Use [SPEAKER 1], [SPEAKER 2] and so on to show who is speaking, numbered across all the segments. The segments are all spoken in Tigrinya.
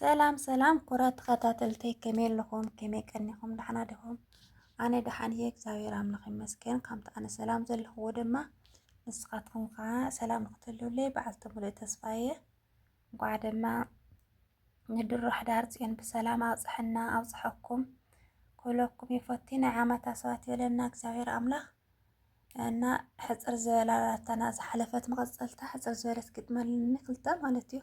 [SPEAKER 1] ሰላም ሰላም ኩራት ተኸታተልተይ ከመይ ኣለኹም? ከመይ ቀኒኹም? ደሓና ዲኹም? ኣነ ደሓን እየ እግዚኣብሔር ኣምላኽ ይመስገን። ከምቲ ኣነ ሰላም ዘለኽዎ ድማ ንስኻትኩም ከዓ ሰላም ንክትህልውለይ በዓልቲ ሙሉእ ተስፋ እየ። እንኳዕ ድማ ንድሮ ሕዳር ፅዮን ብሰላም ኣብፅሐና ኣብፅሐኩም ኩለኩም ይፈቲ ናይ ዓመት ኣስባት ይበለና እግዚኣብሔር ኣምላኽ እና ሕፅር ዝበላ ኣራታና ዝሓለፈት መቐፀልታ ሕፅር ዝበለት ግጥመልኒ ክልተ ማለት እዩ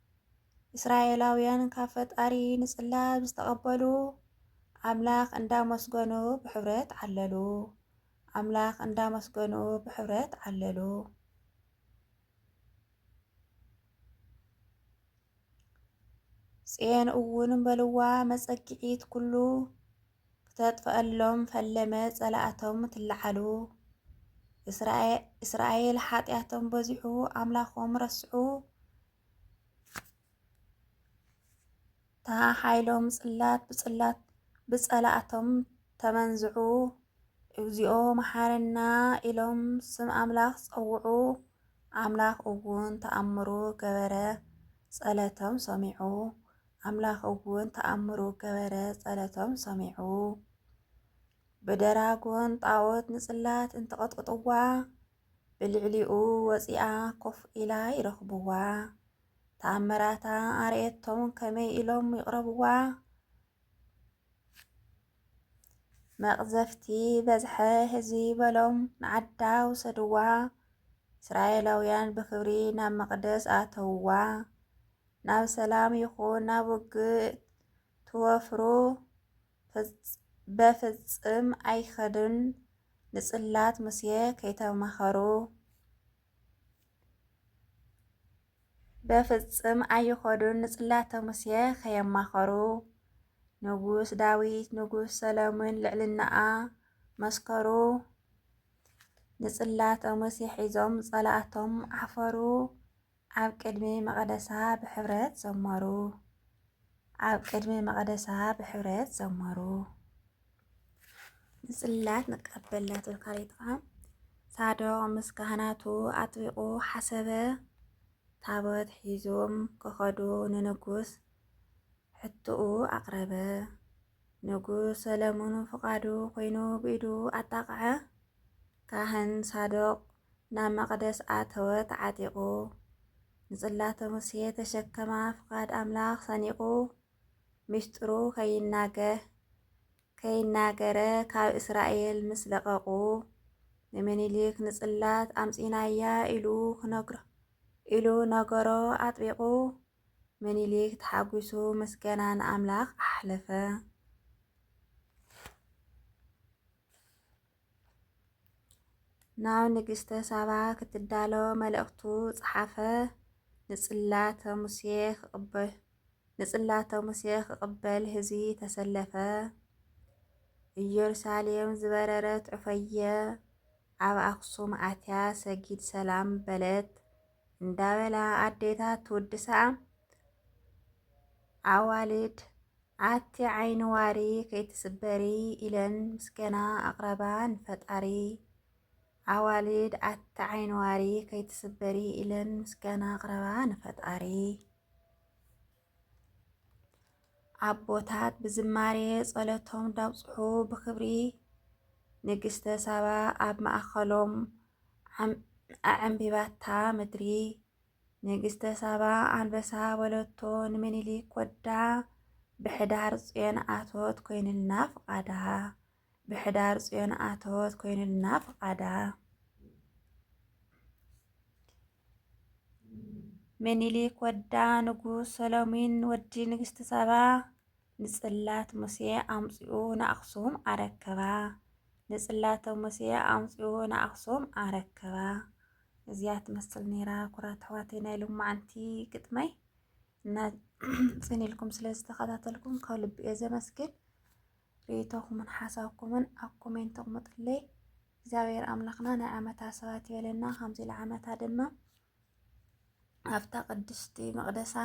[SPEAKER 1] እስራኤላውያን ካብ ፈጣሪ ንጽላብ ዝተቐበሉ ኣምላኽ እንዳመስገኑ ብሕብረት ዓለሉ። ኣምላኽ እንዳመስገኑ ብሕብረት ዓለሉ። ጽዮን እውን በልዋ መጸግዒት ኩሉ ክተጥፍኣሎም ፈለመ ጸላእቶም ትለዓሉ። እስራኤል ሓጢኣቶም በዚሑ ኣምላኾም ረስዑ። እታ ሓይሎም ጽላት ብጽላት ብጸላእቶም ተመንዝዑ እግዚኦ መሓረና ኢሎም ስም ኣምላኽ ጸውዑ ኣምላኽ እውን ተኣምሩ ገበረ ጸለቶም ሰሚዑ ኣምላኽ እውን ተኣምሩ ገበረ፣ ጸለቶም ሰሚዑ። ብደራጎን ጣዖት ንጽላት እንትቐጥቅጥዋ ብልዕሊኡ ወፂኣ ኮፍ ኢላ ይረኽብዋ ተኣምራታ ኣርእየቶም ከመይ ኢሎም ይቕረብዋ መቕዘፍቲ በዝሐ ህዝቢ በሎም ንዓዳ ውሰድዋ እስራኤላውያን ብክብሪ ናብ መቕደስ ኣተውዋ ናብ ሰላም ይኹን ናብ ውግእ ትወፍሩ በፍጽም ኣይኸድን ንጽላት ሙሴ ከይተማኸሩ በፍጽም ኣይኸዱን ንጽላተ ሙሴ ከየማኸሩ ንጉስ ዳዊት ንጉስ ሰለሙን ልዕልናኣ መስከሩ ንጽላተ ሙሴ ሒዞም ጸላእቶም ዓፈሩ ኣብ ቅድሚ መቐደሳ ብሕብረት ዘመሩ። ኣብ ቅድሚ መቐደሳ ብሕብረት ዘመሩ። ንጽላት ንቀበላት ወካሪትኻ ሳዶቅ ምስ ካህናቱ ኣጥቢቑ ሓሰበ። ታቦት ሒዞም ከኸዱ ንንጉስ ሕትኡ ኣቕረበ። ንጉስ ሰለሙን ፍቓዱ ኮይኑ ብኢዱ ኣጣቕዐ። ካህን ሳዶቅ ናብ መቕደስ ኣተወ ተዓጢቑ ንጽላተ ሙሴ ተሸከማ ፍቓድ ኣምላኽ ሰኒቑ ሚስጥሩ ከይናገ ከይናገረ ካብ እስራኤል ምስ ለቐቑ ንምኒልክ ንጽላት ኣምጺናያ ኢሉ ክነግሮ ኢሉ ነገሮ ኣጥቢቑ ምኒልክ ተሓጒሱ ምስገና ንኣምላኽ ኣሕለፈ። ናብ ንግስተ ሳባ ክትዳሎ መልእኽቱ ጸሓፈ። ንጽላተ ሙሴ ክቕበል ንጽላተ ሙሴ ክቕበል ህዝቢ ተሰለፈ። ኢየሩሳሌም ዝበረረት ዑፈየ ኣብ ኣኽሱም ኣትያ ሰጊድ ሰላም በለት። እንዳበላ ኣዴታት ትውድሳ ኣዋልድ ኣቲ ዓይኒ ዋሪ ከይትስበሪ ኢለን ምስገና ኣቕረባ ንፈጣሪ ኣዋልድ ኣቲ ዓይኒ ዋሪ ከይትስበሪ ኢለን ምስገና ኣቕረባ ንፈጣሪ ኣቦታት ብዝማሬ ጸሎቶም እንዳብጽሑ ብኽብሪ ንግስተ ሳባ ኣብ ማእከሎም ኣዐምቢባታ ምድሪ ንግስተ ሳባ ኣንበሳ በለቶ ንምኒልክ ወዳ ብሕዳር ጽዮን ኣቶት ኮይንልና ፍቓዳ ብሕዳር ጽዮን ኣተወት ኮይኑልና ፍቓዳ። ምኒልክ ወዳ ንጉስ ሰሎሚን ወዲ ንግስቲ ሳባ ንጽላት ሙሴ ኣምጺኡ ንኣኽሱም ኣረከባ። ንጽላተ ሙሴ ኣምጽኡ ንኣኽሱም ኣረከባ እዚኣ ትመስል ነይራ ኩራት ኣሕዋተይ ናይ ሎማዓንቲ ግጥመይ እና ጽን ኢልኩም ስለ ዝተኸታተልኩም ካብ ልቢ እየ ዘመስግን ሪኢቶኹምን ሓሳብኩምን ኣብ ኮሜንት ኣቕምጡለይ። እግዚኣብሔር ኣምላኽና ናይ ዓመታ ሰባት ይበለና። ከምዚ ዓመታ ድማ ኣብታ ቅድስቲ መቅደሳ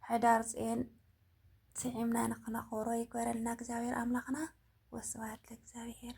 [SPEAKER 1] ሕዳር ፅየን ስዒምና ንክነኽብሮ ይግበረልና እግዚኣብሔር ኣምላኽና። ወስብሐት ለእግዚኣብሔር።